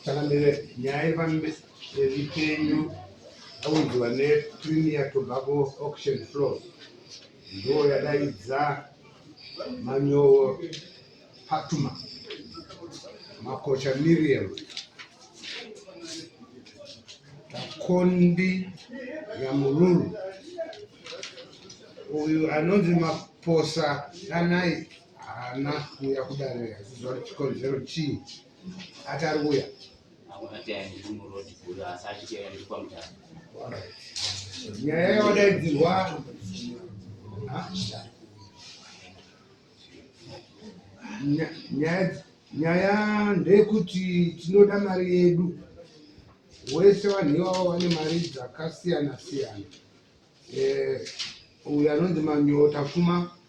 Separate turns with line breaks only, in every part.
takamira nyaya yevambevipenyu aunziwa nepremier tobacco auction floor ndo yadaidza manyowo patuma makocha miriam takondi yamululu uyu anonzi maposa danai haana kuuya kudare achiziva kuti chikonzero chii ati ari kuuya nyaya yawadaidzirwa nyaya ndeyekuti tinoda mari yedu wese vanhu ivavo vane mari dzakasiyana siyana eh, uyu anonzi manyota fuma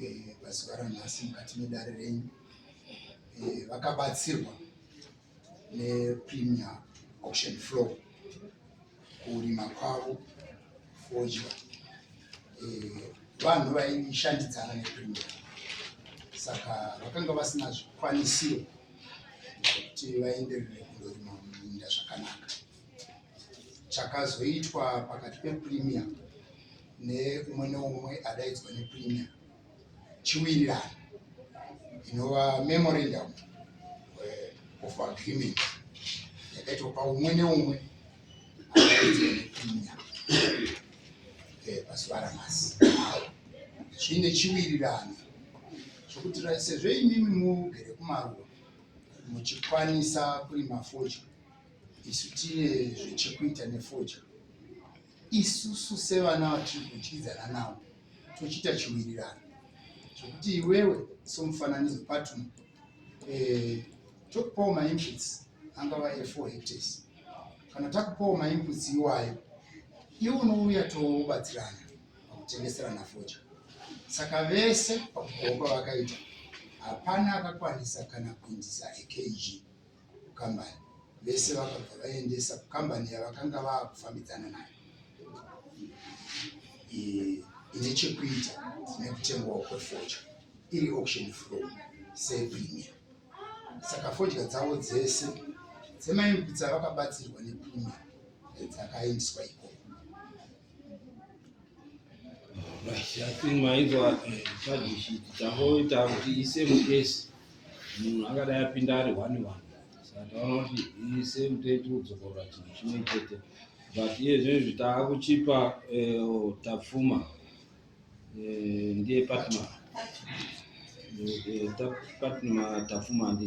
eh, pazuva ranhasi mukati medare renyu eh, vakabatsirwa nepremier auction floor kurima kwavo fodya eh, vanhu vaishandidzana nepremier saka vakanga vasina zvikwanisiro zvekuti vaenderere kundorima muminda zvakanaka chakazoitwa pakati pepremier neumwe neumwe adaidzwa nepremier chiwirirano inova memorandum eh, of agreement yakaitwa paumwe neumwe adaidzwa nepremier eh, pazuva ramasi zviine chiwirirano chokuti sezvo imimi mugere kumaruwa muchikwanisa kurima fodya Isu tine zvechekuita nefoja. Isusu sevana vatiri kudyidzana navo tochiita chiwirirano zvekuti iwewe somufananidzo patm eh, tokupawo mainputs angava e4 hectares kana takupawo mainputs iwayo iwe unouya tobatsirana pakutengeserana foja saka vese pakukomba vakaita hapana akakwanisa kana kuindisa ekg kukambani vese vakabva vaendesa kukambani yavakanga vakufambidzana nayo ine chekuita nekutengwawo kwefodya iri auction flow sepremier saka fodya dzavo dzese dzemaimukutsa vakabatsirwa nepremier dzakaendiswa ikoko
Shakima hizo chaji shit changoita kuti ise mukesi munhu angadai apinda ari one one saka taona kuti ise muteti udzokorora chinhu chimwe chete but iye zvinezvi taakuchipa eh, tapfuma eh, ndiye patma eh, patma tapfuma ndi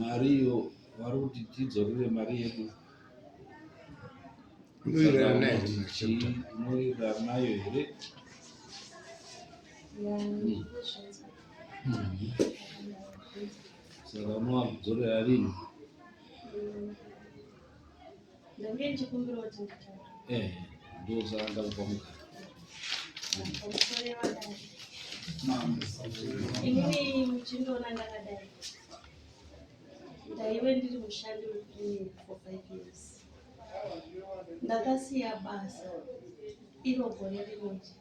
mariyo vari kuti tidzorere mari yedu
unoirana
nayo here saka unowakudzorera rinhi
Ndange ndichikumbira kuti nditaure. Eh, ndozvaanga
kupa mugara.
Pamusoro yevadai. Inini muchindiona ndakadai. Ndaive ndiri mushandi wekurini for five years. Ndakasiya basa iro gore rimwe chete.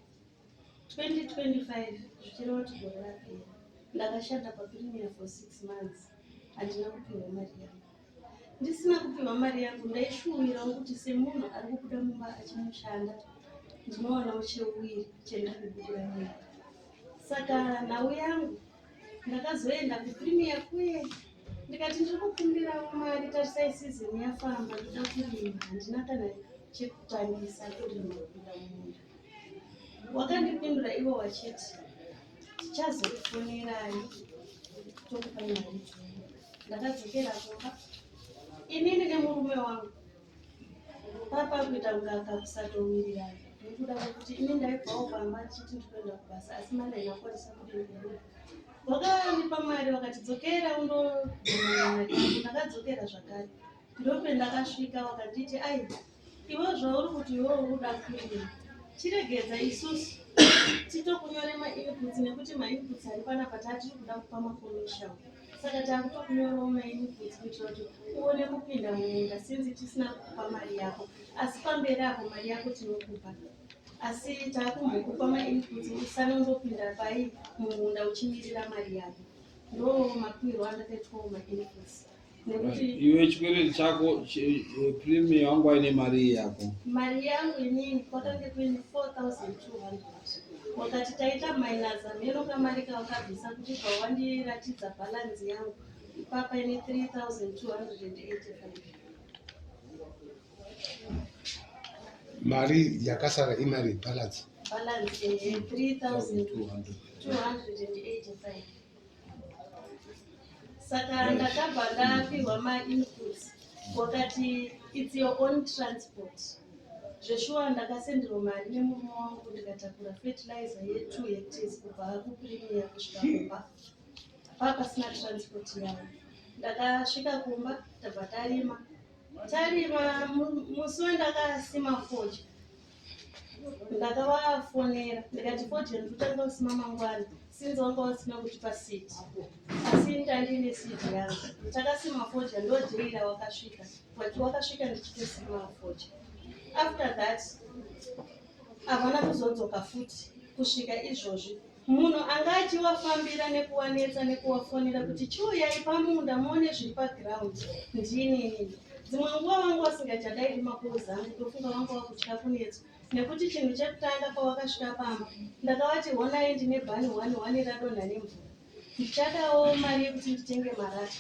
2025 zvichireva kuti gore rapera ndakashanda paprimier for six months handina kupihwa mari yangu ndisina kupihwa mari yangu ndaishuwirawo kuti semunhu ari kubuda mumba achimushanda ndinowanawo cheuwiri chendakubudira mumba saka nhau yangu ndakazoenda kuprimier kuye ndikati ndiri kukumbirawo mari tarisai sizini yafamba ndida kurima handina kana chekutangisa kurima kuda munda wakandipindura ivo vachiti tichazokufonerai tokupa mari ndakadzokera kumba inini nemurume wangu papa kuita kunga akakusatowirirana nekuda kwekuti ini ndaibvawo pamba chiti ndikuenda kubasa asi mandaina kwanisa kudii wakanipa mari wakatidzokera undoaa ndakadzokera zvakare ndope ndakasvika wakanditi ai Iwe zvauri kuti iwe ukuda kuita chiregedza isusu titokunyore mainputs nekuti mainputs ari panapa taatiri kuda kupa makomishao saka taakutokunyorawo mainputs kuitira kuti uone kupinda mumunda sinzi tisina kukupa mari yako asi pamberi apo mari yako tinokupa asi taakumbokupa mainputs usane undopinda pai mumunda uchimirira mari yako ndo mapirwo andakaitwawo mainputs iwe
chikwereti chako prime yangu aine mari yako mari yangu inini
kwakange kuine 4200 wakati taita minus amheno kamari kawakabvisa kuti pawandiratidza bhalanzi yangu ipapa ine 3285
mari yakasara imari bhalanzi bhalanzi 3285
saka ndakabva ndapihwa mainputs wakati its your own transport zveshuwa ndakasenderwa mari nemurume wangu ndikatakura fertilizer yetu hectes kubva kuprimier kusvika kumba paa pasina transport yavo ndakasvika kumba tabva tarima tarima musi wendakasima fodya ndakavafonera ndikati fodya ndikutanga kusima mangwana sinzi wanga wasima kuti pasiti asi ndandine siti yangu takasima fodya ndojeira wakasvika but wakasvika ndichitosima fodya after that havana kuzodzoka futi kusvika izvozvi Munhu anga achivafambira nekuwanetsa nekuwafonera kuti chiuyai pamunda muone zviri paground ndinini dzimwe nguva vanga vasingachadairi makozi angu tofunga vanga vakutya kunetswa nekuti chinhu chekutanga pavakasvika pamba ndakavati honai ndine bhani one one radonha nemvura ndichadawo mari yekuti nditenge marata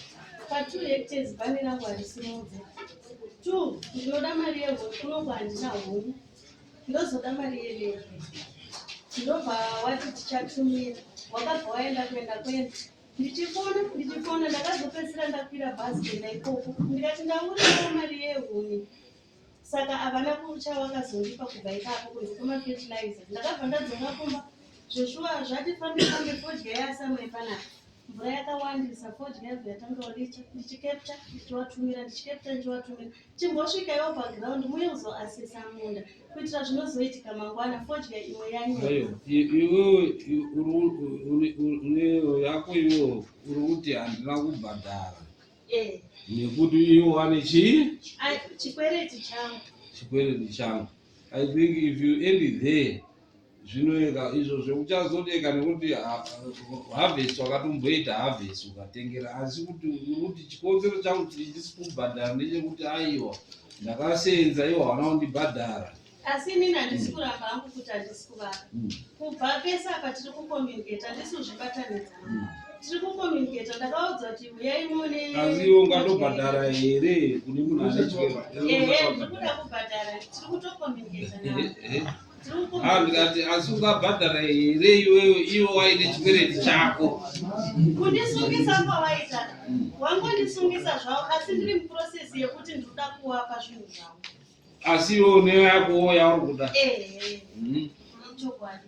patwo hectares bhani rangu harisimudze two ndinoda mari yehokunongo handina hongu ndozoda mari yerevi ndobva wati tichatumira wakabva waenda kuenda kwenda ndichifona ndichifona ndakazopedzisira ndakwira bhazi kuenda ikoko ndikati ndaurira mari yehuni saka havana kucha wakazondipa kubva ipapo kunze kwemafertilizer ndakabva ndadzoka kumba zveshuwa zvati fambe fambe fodya yasamai panapa mvura yakawandisa fodya yabva yatanga uricha ndichikepta ndichiwatumira ndichikepta ndichiwatumira Chimbosvikaiwo paground muye kuzoasesa
munda kuitira zvinozoitika mangwana fodya imwe yanyaya. Iwewe yako iwewe uri kuti handina kubhadhara eh. nekuti iwo wane chii chikwereti
changu chikwereti changu
I think if you end it there zvinoeka izvo zvekuchazodeka nekuti harvest wakatomboita harvest ukatengera asi kuti kuti chikonzero changu chindisi kubhadhara ndechekuti aiwa ndakasenza iwo haana kundibhadhara asi inini handisi
hmm. kuramba hangu kuti handisi kuvaka hmm. kubva pese apa tiri kucommunicate handisi kuzvibatanidza hmm. tiri kucommunicate ndakaudza kuti uyai mune asi iwo ungatobhadhara
here kune
munhu ane chikero
ehe ndiri kuda
kubhadhara tiri kutocommunicate Ah, ndikati
asi ungabhadhara here iwewe iwe waine chikwereti chako kundisungisa
kwawaita wangondisungisa zvavo asi ndiri muprocess yekuti ndikuda kuwapa zvinhu zvavo asi iwe
une yakowo yauri kuda eh, eh. Mhm. chokwadi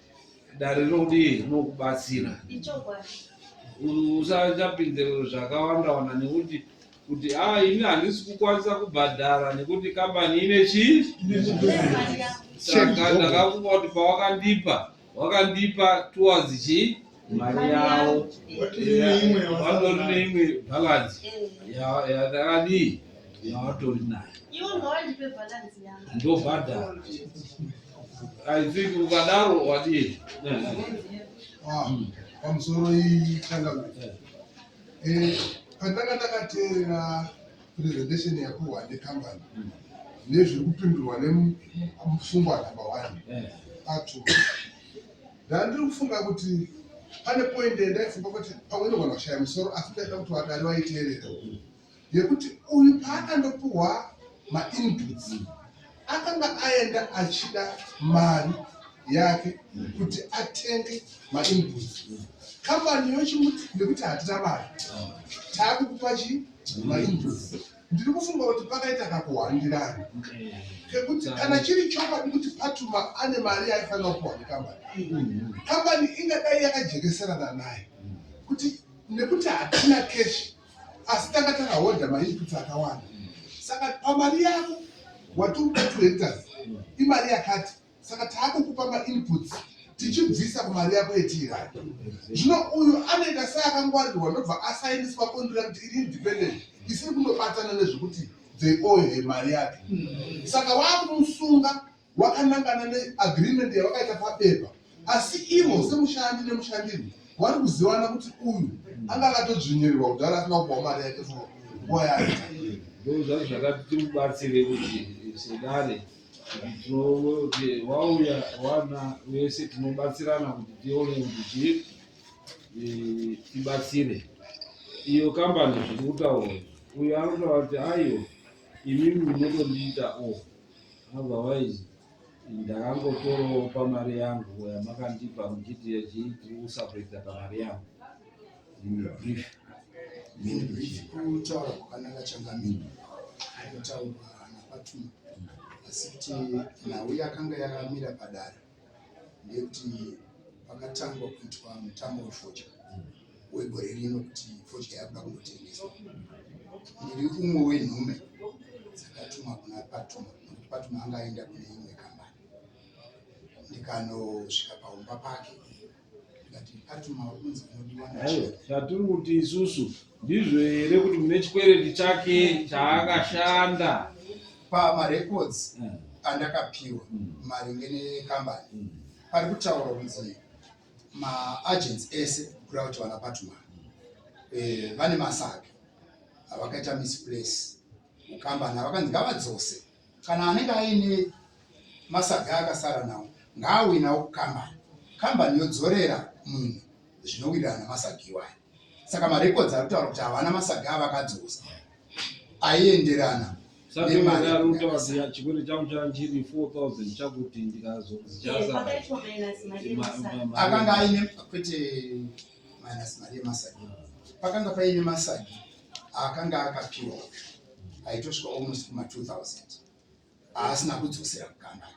dare rinodii rinokubatsira
usachapinze
zvakawanda wanda nekuti kuti a ah, ini handisi kukwanisa kubhadhara nekuti kambani ine chii saka ndakafunga kuti pawakandipa wakandipa towards chii mari yavo vatori neimwe bhalansi yakadii yavatori nayo ndobhadhara i think ukadaro wadii ah,
pamusoro iyi changamwe eh, pandanga ndakateerera presentation yakuhwa necompany hmm. nezviri kupindurwa nemufungwa number one eh. atu Ndandiri kufunga kuti pane point yandaifunga kuti pamwe inogona kushaya musoro asi ndaida kuti vadari vaiteerera yekuti uyu paakandopuhwa mainputs akanga aenda achida mari yake kuti atenge mainputs kambani yochimuti nekuti hatina mari taakukupa chi mainputs ndiri kufunga kuti pakaita kakuhwandirana kekuti kana chiri chokwadi kuti patuma ane mari yaifanira kuwa nekambani kambani ingadai yakajekeserana naye kuti nekuti hatina keshi asi tanga takahodha mainputs akawanda saka pamari yako wati uda two hectors imari yakati saka taakukupa mainputs tichibvisa kumari yako yetiirani zvino uyu anoita seakangwarirwa ndobva asainiswa kondira kuti iri independent isiri kundobatana nezvekuti they owe her mari yake saka waakumusunga wakanangana neagreement yavakaita pabepa asi ivo semushandi nemushandirwi wari kuzivana kuti uyu anga akatodzvinyirirwa kudhara asina kupawo mari yake nguva yaita ndozvazvakati
timubatsire kuti sedare vauya vana vese tinobatsirana kuti tione kuti eh, tibatsire iyo kambani zviri kutaura uyo anotaura kuti aiyo imimi munotondiita o oh, otherwise ndakangotorawo pamari yangu yamakandipa muchiti yachii tiri kusapredza pamari yangu
kutaura kwakananga changamire kutaurwa napatuma asi kuti nhau yakanga yakamira padare ndeyekuti pakatangwa kuitwa mutambo wefodya wegore rino kuti fodya yakuda kungotengeswa ndiri umwe wenhume dzakatumwa kuna patuma nokuti patuma anga aenda kune imwe kambani ndikanosvika paumba pake zvatiri
kuti isusu ndizvo here kuti mune chikwereti chake chaakashanda pamarecords
eh. andakapiwa hmm. maringe nekambani hmm. pari kutaura kunzi maagents ese kuda kuti vana patman eh, vane masake avakaita misplace mukambani avakanzi ngavadzose Kana anenge aine masaga akasara nawo ngaauye nawo kukambani. Kambani yodzorera munhu zvinowirirana nemasaga iwayo. Saka marecords ari kutaura kuti havana masaga avakadzosa aienderana akanga
aine kwete
minus mari yemasagi pakanga paine masagi akanga akapiwa aitosvika almost kuma 2000 aasina kudzosera kukanga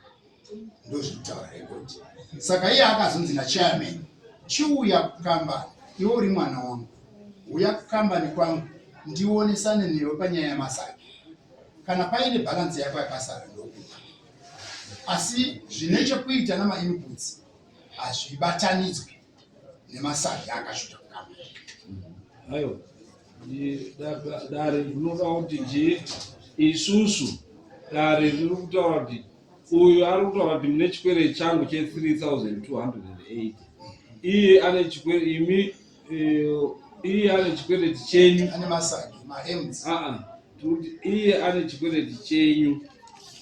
ndozvekutaura rekodi saka iye akazonzi nachairman chiuya kukambani iwe uri mwana wangu uya kukambani kwangu ndionesane newe panyaya yamasagi kana paine bhalansi yako yakasara ndokupa asi zvine chekuita namainputs hazvibatanidzwe nemasazha akasvika
kukama ayo dare rinotaura kuti je isusu dare riri kutaura kuti uyu ari kutaura kuti mune chikwere changu che 3208 iye ane chikwere imi eh, iye ane chikwereti chenyu ane masagi
maems aa ah, ah. tikuti
iye ane chikwereti chenyu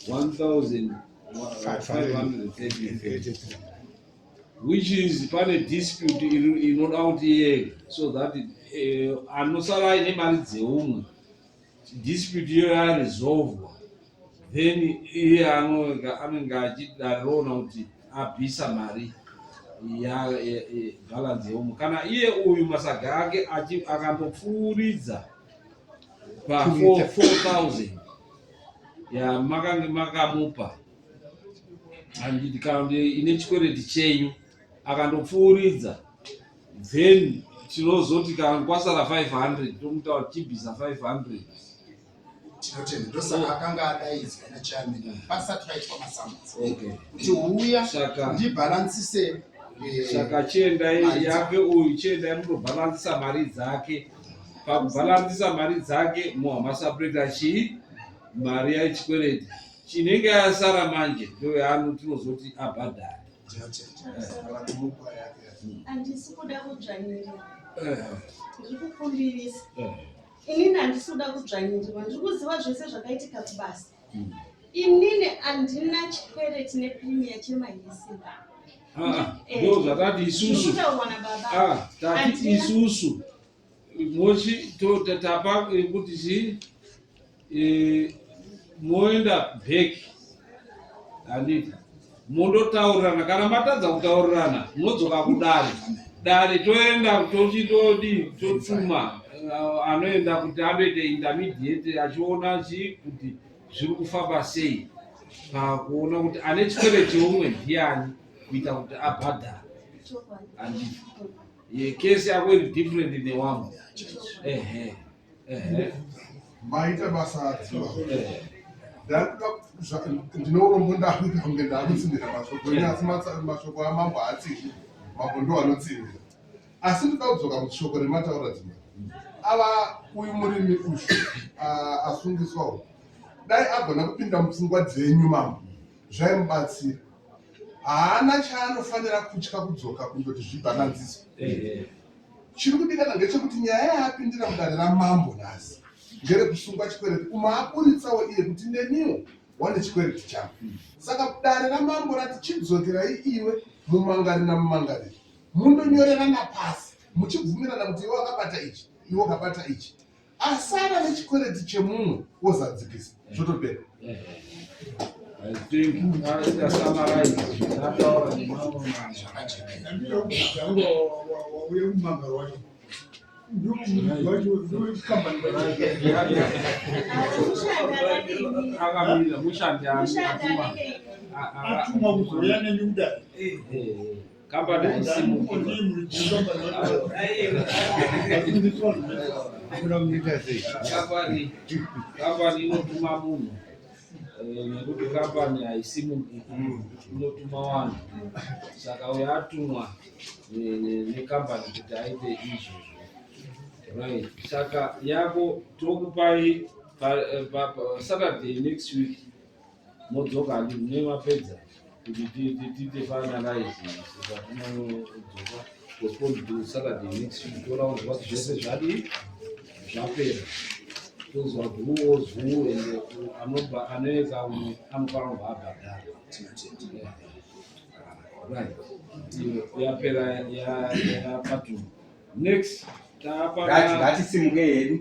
1533 which is pane dispute inoda kuti iye so that eh, anosara aine mari dzeumwe dispute iyo yaresolvwa then iye anenge achidarona kuti abvisa mari yebhalanzi yeumwe kana iye uyu masaga ake akambopfuuridza pa 4000 yamakange makamupa handiti kana kuti ine chikwereti chenyu akandopfuuridza then tinozoti kana kwasara 500 tomutaura
tichibvisa 500 saka
chiendai yake uyu chiendai munobhalansisa mari dzake pakubhalansisa mari dzake mohamasapureta chii mari yaichikwereti chinenge asara manje ndoyaano tinozoti abhadhare handisi
kuda kudzvanyirira eh. ndiri kukumbirisa eh. inini handisi kuda kudzvanyirirwa ndiri kuziva zvese zvakaitika kubasa hmm. inini handina chikwereti neprimiya chemahisimba ah, ah.
eh. ndo zvakati isusu ah, tati isusu Moshi tota tapa kuti chi moenda back handiti mondotaurirana kana matadza kutaurirana munodzoka kudare dare toenda tochitodi totuma uh, anoenda kuti anoita intermediate achiona chi kuti zviri kufamba sei pakuona kuti ane chikwereti umwe ndiani kuita kuti abhadhara handiti Ye case yako iri different in the one. Ehe.
Ehe. Maita basa adzwa. Ehe. Ndakuda ndinorombo ndakuda kunge ndakutsinira mashoko enyu asi mashoko amambo haatsiki mambo ndo anotsinira asi ndida kudzoka kuti shoko remataura dzima ava uyu murimi uyu asungiswawo dai agona kupinda mupfungwa dzenyu mambo zvaimubatsira haana chaanofanira kutya kudzoka kundoti zvibhananziso chiri kudikana ngechekuti nyaya yaapindira mudare ramambo nhasi ngerekusungwa chikwereti umaaburitsawo iye kuti neniwo wane chikwereti changu saka dare ramambo rati chidzokerai iwe mumangari namumangariri mundonyorerana pasi muchibvumirana kuti iwe wakabata ichi iwe ukabata ichi asara nechikwereti chemumwe wozadzikisa
mm. zvotopera akamira mushandi atumwa kuzouya neni kudai Kambani haisi mukirwa. Kambani kambani inotuma munhu eh, nekuti kambani haisi mubiki inotuma vanhu saka uyo atumwa ne- ne- nekambani kuti aite izvozvo right saka yako tokupai pa- eh, pa- pa- saturday next week modzoka handi mune mapedza kuti tiite finalize zvatinodzoka postponed to saturday next week toona kuti what zvese zvadi zvapera tozwa guruwo zuu and anobva anoeka umwe anofanira kubva abhadhara right yapera yapatuma next taapa
ngatisimuke hedu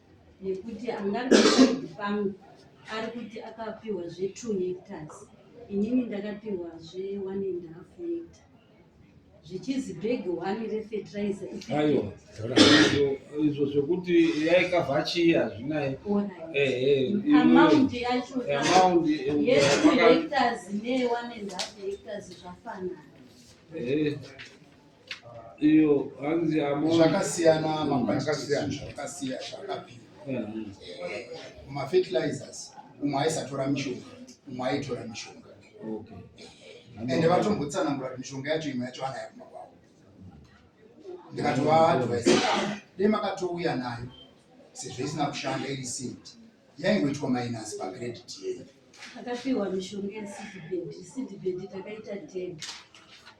nekuti angabe saidi pangu ari kuti akapiwa zve2 hectars inini ndakapiwa zve1 and half hecta zvichizi bhegi one refetiraiza
izvo zvekuti yaikavhachiya hazvinaye
amaundi yacho yetu
hectars
ne one and half hectars zvafanana
iyo hanzi amount zvakasiyana
maquantitizvinhu zvakasiya zvakapira mafertilizers umwe aisatora mishonga umwe aitora mishonga
and
vatombotsanangura kuti mishonga yacho imwe yacho anayo kuma kwavo ndikatovaadvise dei makatouya nayo sezvo isina kushanda iri seed yaingoitwa minus pacredit yeyo takapiwa
mishonga yesidbed sidbed takaita ten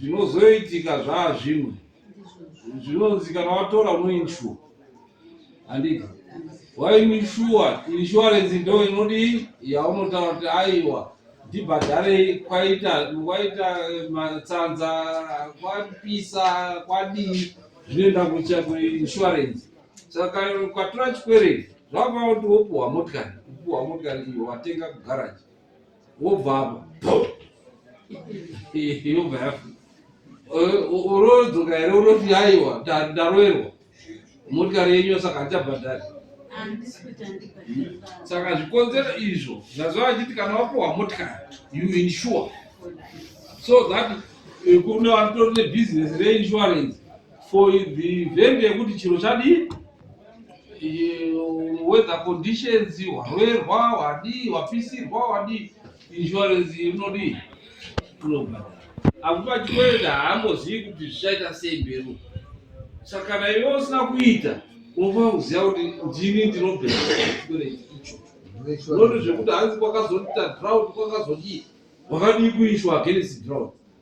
zvinozoitika zvaazvimwe zvinonzikana watora unoinshuwa handiti wainishuwa inshuwarensi ndo inodii yaunotaura kuti aiwa ndibhadharei kwaita kwaita eh, matsanza kwapisa kwadii zvinoenda kucha kuinshuwarensi saka ukatora chikwereti zvakava kuti wopuhwa motikari kupuhwa motikari iyo watenga kugaraji wobva yobva yafa urodzoka here unoti yaiwa ndaroerwa motikari yenyu yosaka handichabhadhari saka zvikonzero izvo zvazova achiti kana wapuwa motikari you insure so that eh, kune vanotori nebhizinesi reinsurance for the event yekuti chiro chadii weather conditions warwerwa wadii wapisirwa wadii insurance inodii inobhadhara akuti achikwenda haambozivi kuti zvichaita sei mberi saka kana iwe usina kuita unofanira kuziva kuti ndini ndinobhera unoti zvekuti hanzi kwakazoita drought kwakazodii wakadii kuishwa against drought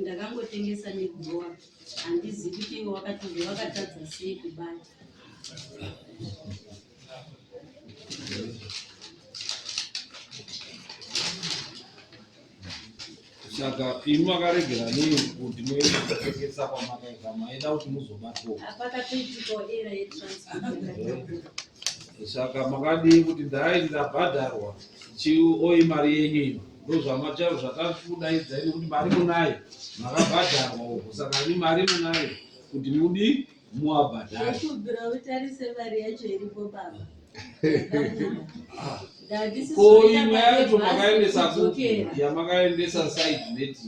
ndakangotengesa nekurowa handizi kuti iwe wakatizve wakatadza sei kubata
saka imi makaregera nei kuti moekesa kwamakaita maida kuti
muzobatwa
saka makadii kuti ndai ndabhadharwa chioyi mari yenyu ino ndozvamataura zvakakudaidzai nekuti mari munayo makabhadharwa uko saka ni mari munayo kuti mudi muwabhadhara kubvira utarise
mari yacho iripo baba
ko imwe yacho makaendesa kupi yamakaendesa side neti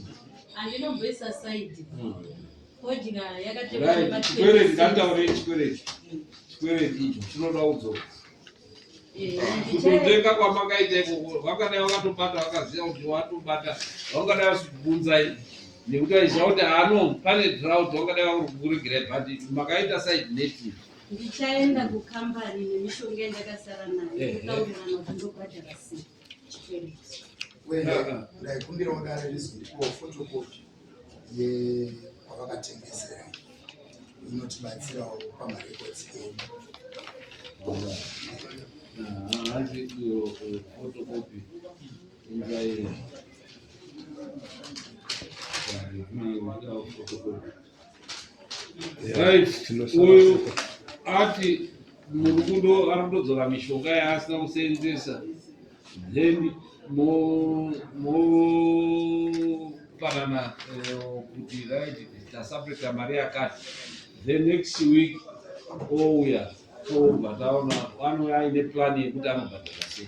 andinomboisa
side hmm. kodya yakatekwere
ndataure chikwereti chikwereti icho chinoda udzoka kutotenga kwamakaita ikoko vangadai vakatobata vakaziva kuti watobata vangadai vasibvunzai nekuti vaiziva kuti hano pane drout vangadai vakuregerai but makaita side native ndichaenda kukambani nemishonga yandakasara nayo kutaurirana kuti
ndobhadhara sei
ndaikumbirawo dare rizondipawo fotokopi yevakatengesera inotibatsirawo pamarekodzi edu
hanzi iyo fotokopi ingairi uyu ati murukudo anotodzora mishonga yaasina kuseenzesa then mopanana eh, kuti right tasapeta mari yakati the next week ouya tobva taona anouya aine plani yekuti anobhadhara sei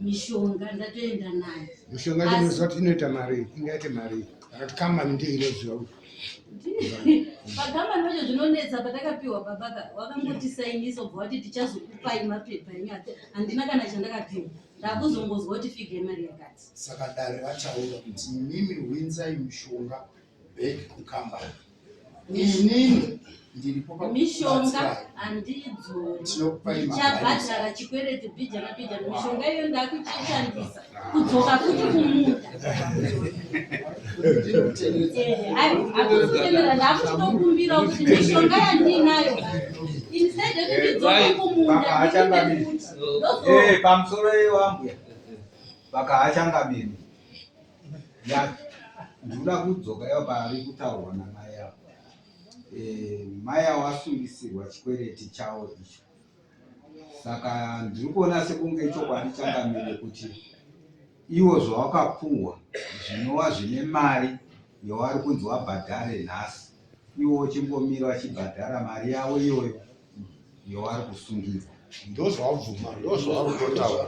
mishonga ndatoenda nayo mishonga ndinoziva kuti
inoita mari ingaite mari akati kamani ndiyo inoziva kuti pakamani
vacho zvinonetsa patakapiwa baba ka wakangotisainisa ubva wati tichazokupai mapepa ini handina kana chandakapiwa ndakuzongozwa kuti fige mari yakati saka dare
vachaura kuti mimi hwinzai mishonga back kukambani inini mishonga
handidzoichabhadhara chikwereti bhija nabhija mishonga iyo ndakuchishandisa kudzoka futi kumuda akuzitemera ndakuchitokumbira kuti mishonga yandinayo instead yekuti ndidzoka kumunda pamusoro
iwambuya vakahachangamiri yake ndikuda kudzoka yao paari kutaurwa namai avo e, eh, mai avo asungisirwa chikwereti chavo icho saka ndiri kuona sekunge ichokwadi changamire kuti iwo zvawakapuhwa zvinova zvine mari yawari kunzi wabhadhare nhasi iwo uchingomira wachibhadhara mari yavo iyoyo yoari kusungirwa ndozvaabvuma
ndozvaarikutotaura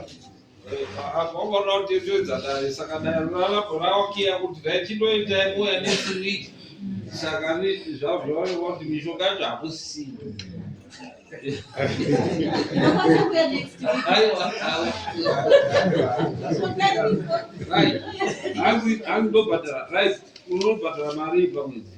akaona kuti ndoedzadare saka dare ralabho rawakiya kuti dai chindoita nguva next week saka zvazvaoneka kuti mishonga yacho hakusisina hanzi ndobhadhara right unobhadhara mari pamwedzi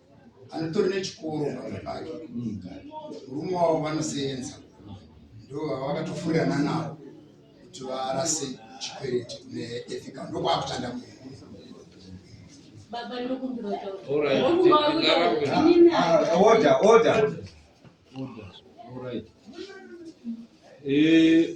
anotori nechikoro pamwe pake murume wavo vanoseenza ndo vakatofurirana navo kuti varase chikwereti kune ethical ndokwaakutanda mu
Order,
order. Order.
All right. Eh,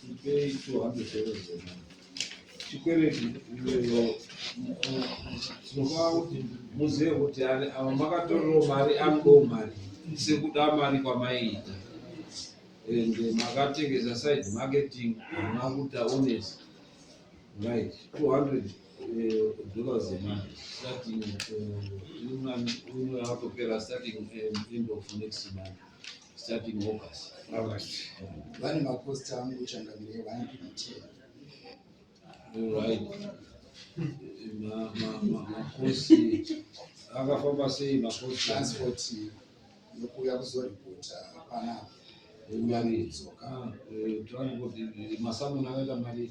Tipei 200 euros dzemari. Chikwereti iweyo tinofanira kuti muzive kuti ani ava makatorerawo mari akudawo mari sekuda mari kwamaiita and makatengesa side marketing hamuna kuita honest right 200 dollars dzemari starting eh, imwe yakutopera starting eh, end of next month starting August. August.
Vane maposta angu changamire one PTA.
Right. Ma ma ma makosi akafamba sei makosi transport
yokuya kuzoripota panapa. Uya
nidzoka. Transport masamuna akaita mari.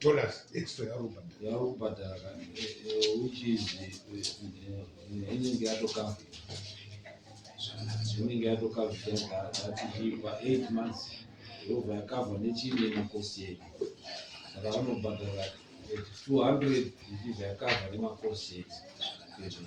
dollars
extra yauri kubhadhara yauri kubhadhara ka which is inenge yatokava inenge yatokava yatichipa eight months yobva yakava nechimwe makosi yedu saka vanobhadhara two hundred ichibva yakava nemakosi yedu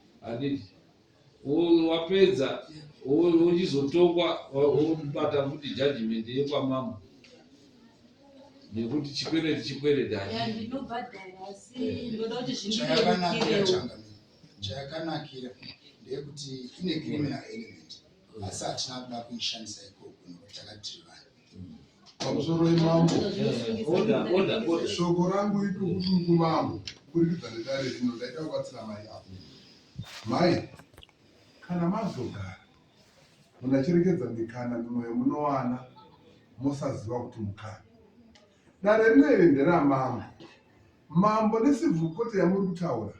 handiti unhu wapedza unhu uchizotongwa wobata futi judgment yekwamambo nekuti chikwereti chikwereti
chayakanakira ndeyekuti ine criminal element asi hatina kuda kuishandisa ikoko nokuti takatiri vanhu pamusoro
imambo
shoko rangu
itukutuku mambo kurikidza nedare rino ndaida kubatsira mai apo mai kana mazogara munhu achirekedza mikana mimwe yemunowana mosaziva kuti mukana dare rino iri nderamambo mambo nesivhukoti yamuri kutaura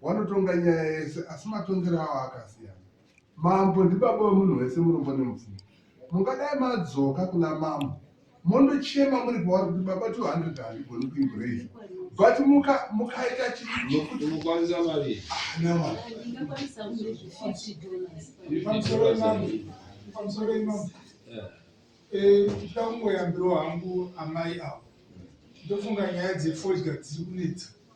wanotonga nyaya yese asi matongero awo akasiyana Mambo ndibaba wemunhu wese murombo nemupfumi. Mungadai madzoka kuna mambo mondochema muri pauri kuti baba 200 handigoni kuibrei but mukaita chiiokutiinokwanisa
mari
ndikangoyambirwa hangu amai avo ndofunga nyaya dzefodya dziri kunetsa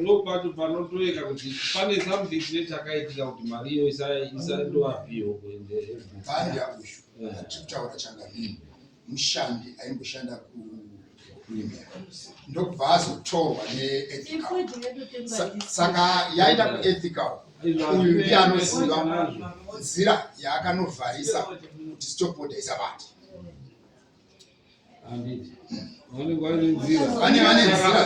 ndopato
panotoeka kuti pane something chine chakaitika kuti mari iyo isaindoapiwo kuendeebhandi yakushu
tikutaura changa ini mushandi aimboshanda ku ndokubva azotorwa neethicalsaka yaenda kuethical uyu ndiye anoziva nzira yaakanovharisa kuti stopboard aisabati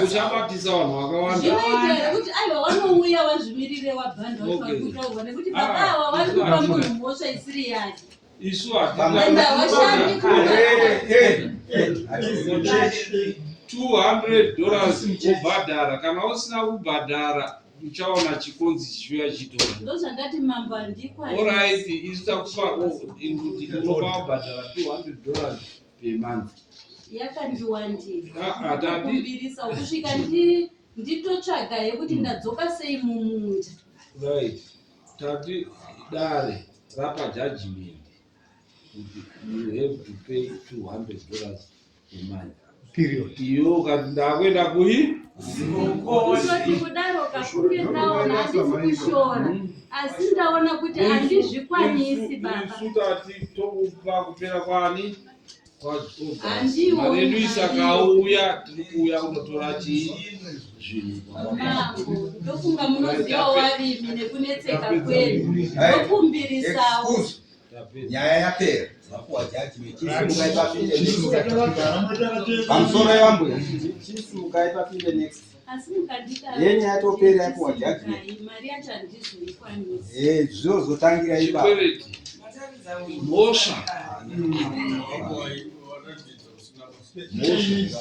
uchabatisa vanhu vakawandaekuti aiwa wanouya wazvimirire
wabhandwakutoa nekuti baba ah, awa wari
kupa munhu mhosva
isiri yake isu hatiashandi 200
dollars wobhadhara kana usina kubhadhara uchaona chikonzi chichiuya chichitora ndozvandati mambo
andikwa orit isu
takupa kuti unopa wabhadhara 200 dollars per month yakandiwandiakumbirisa
ah, ah, kusvika nditotsvaga yekuti hmm. ndadzoka sei mumunda right
tati dare rapa judgment you have to pay 200 dollars period iyo
ukati
ndakuenda kuyi kuzoti
kudaro kakunge ndaona handisi kushora asi ndaona kuti handizvikwanisi babasutati tokupa
kupera kwani
maredu
isakauya tiri kuuya kunotora chii zvinhuofunga
munoziva warimi nekunetseka kwedu tokumbirisawo
nyaya yapera vapuwa judgmentchimukai pamusoro yambuya chisimukai papinde next
yenye yatopera
yapuwa judgment
eh, zvozotangira
ipa mhosva
mhosva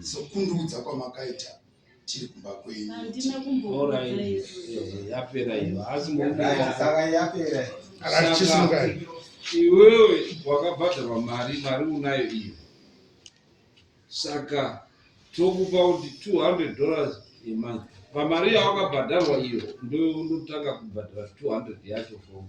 sokundiudza kwamakaita tiri kumba kwenyu
yapera
iyo
asi
iwewe wakabhadharwa mari mari unayo iyo saka tokupa kuti 200 dollars yemanzi pamari yawakabhadharwa iyo ndotanga kubhadhara 200 yacho fomu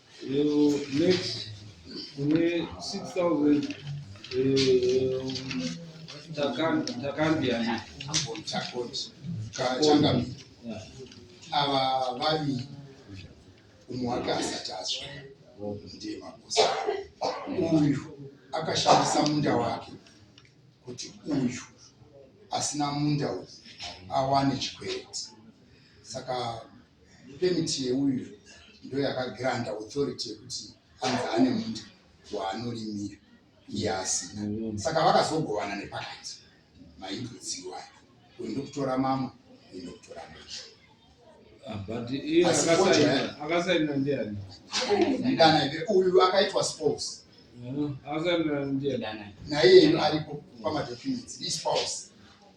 Eyo next kune 6000 eh takan takandiani amboni
chakoti kachanga ava vami umwaka asati azwa ndiye makosa uyu akashandisa munda wake kuti uyu asina munda uyu awane chikweti saka Permit yeuyu ndoyakagranta authority yekuti anzi ane munda waanorimira iye asina. Mm. Saka vakazogovana nepakati maimbudziwo ayo kuenda kutora mamwe kuenda kutora macho ah,
but iye akasainira ndiani ndana
ive uyu akaitwa spouse mm,
akasainira ndiani naiye aripo
pamadocuments ispouse